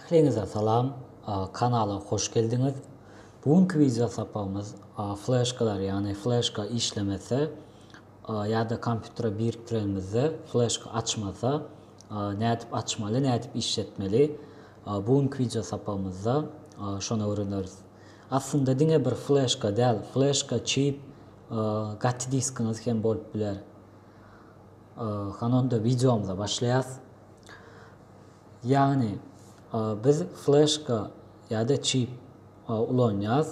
Ähliňize salam, kanala hoş geldiňiz. Bu günki wideo sapagymyz fleşkalar, ýagny fleşka işlemese ýa-da kompýutere birikdirenimizde fleşka açmasa, nädip açmaly, nädip işletmeli? Bu günki wideo sapagymyzda şony öwreneris. Aslynda diňe bir fleşka däl, fleşka, çip, gaty diskiňiz hem bolup biler. Hany onda wideomyza başlaýas. Ýagny biz fleşka ýa-da çip ulanýas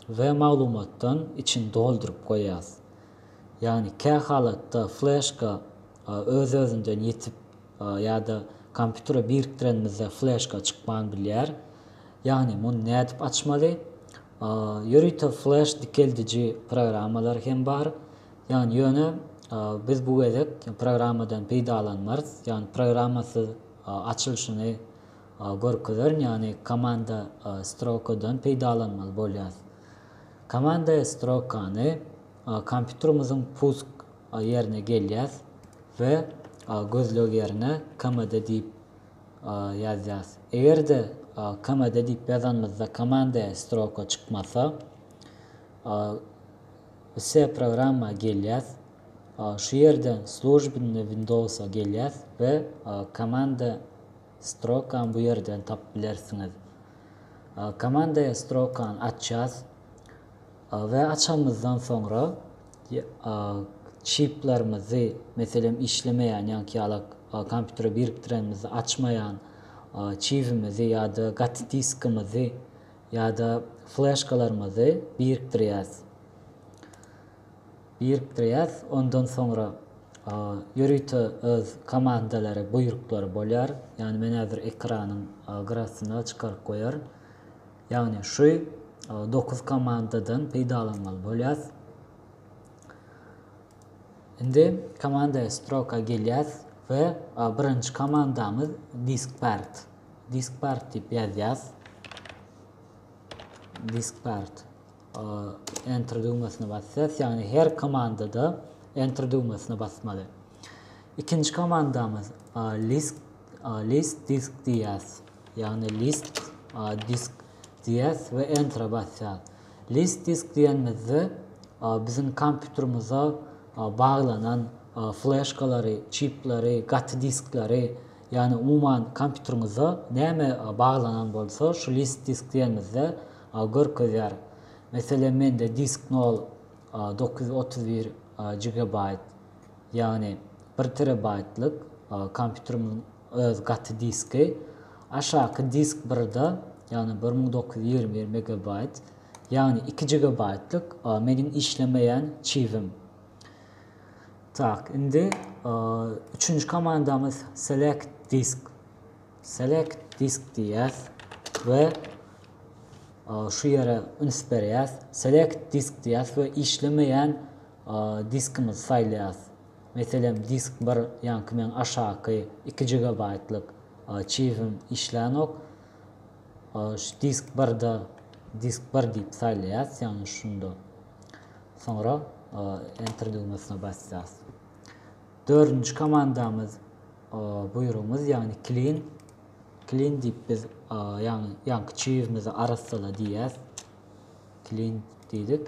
we maglumatdan içini dolduryp goýýas. Ýagny kä halatda fleşka öz-özünden ýetip ýa-da kompýutere birikdirenimizde fleşka çykman bilýär. Ýagny muny nädip açmaly? Ýörite fleş dikeldiji programmalar hem bar. Ýagny ýöne biz bu gezek programmadan peýdalanmarys. Ýagny programmasyz açylyşyny görkezerin, ýagny komanda strokadan peýdalanmaly bolýarys. Komanda strokany kompýuterimiziň pusk ýerine gelýäs we gözleg ýerine KMD diýip ýazýas. Eger-de KMD diýip ýazanymyzda komanda stroka çykmasa, Vse programma gelýäs. Şu ýerden Službnny Windowsa gelýäs we komanda strokany bu ýerden tapyp bilersiňiz. Komanda strokany açýas. We açanymyzdan soňra çiplerimizi, meselem, işlemeýän ýaňky ýala kompýutere birikdirenimizde açmaýan çibimizi ýa-da gaty diskimizi ýa-da fleşkalarymyzy birikdirýäs. Birikdirýäs, ondan soňra ýörite öz komandalary, buýruklary bolýar. Ýagny men häzir ekranyň gyrasyna çykaryp goýaryn. Ýagny şu dokuz komandadan peýdalanmaly bolýas. Indi komanda stroka gelýäs we birinji komandamyz diskpart. Diskpart diýip ýazýas. Diskpart enter düwmesine basýas. Ýagny her komandada enter düwmesine basmaly. Ikinji komandamyz list list disk diýýäs. Ýagny list, a, disk diýýäs we enter-e basýas. List disk diýenimizde biziň kompýuterimize baglanan fleşkalary, çipleri, gaty diskleri, ýagny umuman kompýuteriňize näme baglanan bolsa şu list disk diýenimizde görkezýär. Meselem mende disk nol dokuz ýüz otuz bir gigabaýt ýagny bir terabaýtlyk kompýuterimiň Öz gaty diski, aşaky disk birda, ýagny bir müň dokuz ýüz ýigrimi bir megabaýt, ýagny iki jigabaýtlyk meniň işlemeýän çibim. Tak, indi üçünji komandamyz select disk. Select disk diýýäs we şu ýere üns berýäs. Select disk diýýäs we işlemeýän diskimizi saýlaýas. Meselem, disk bir, ýaňky meň aşaky iki jigabaýtlyk arçiwim işlänok. Şu disk birde disk bir diýip saýlaýas, ýagny şunda. Soňra Enter düwmesine basýas. Dördünji komandamyz buýrugymyz, ýagny clean. Clean diýip biz ýagny ýaňky çiwimizi arassala diýýäs. Clean diýdik.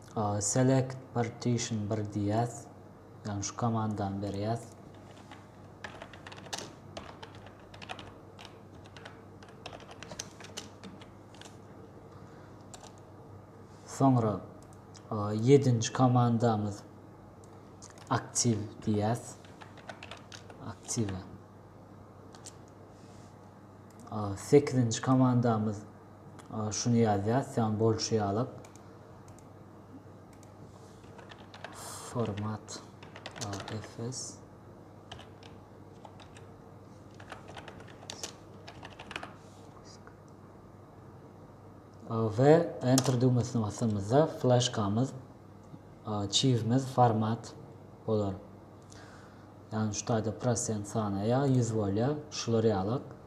Select partition bir diýýäs. Ýagny şu komandany berýäs. Soňra 7-nji komandamyz aktiv diýýäs. Aktive. 8-nji komandamyz Şuny ýazýas, sen bolşy ýalak. Format AFS. We enter düwmesine basamyzda flashkamyz, çivimiz format bolar. Yani şu taýda prosent sanaýa, 100 bolýar, şular ýalak.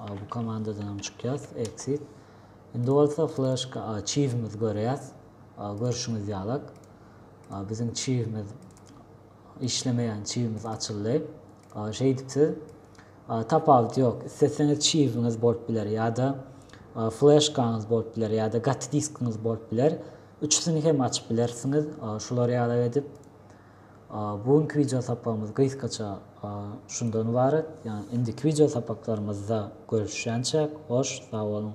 Bu komandadan hem çykýas. Exit. Indi bolsa flashka çivimiz görýäs. Görşüňiz ýaly. Biziň çivimiz işlemeýän çivimiz açyldy. Şeýdip siz tapawut ýok. Isleseňiz çiwiňiz bolup biler ýa-da flashkaňyz bolup biler ýa-da gaty diskiňiz bolup biler. Üçüsini hem açyp bilersiňiz. Şular ýaly edip Bu günki wideo sapagymyz gysgaça şundan ybarat. Ýa indiki wideo sapaklarymyzda görüşýänçäk, hoş, sag boluň!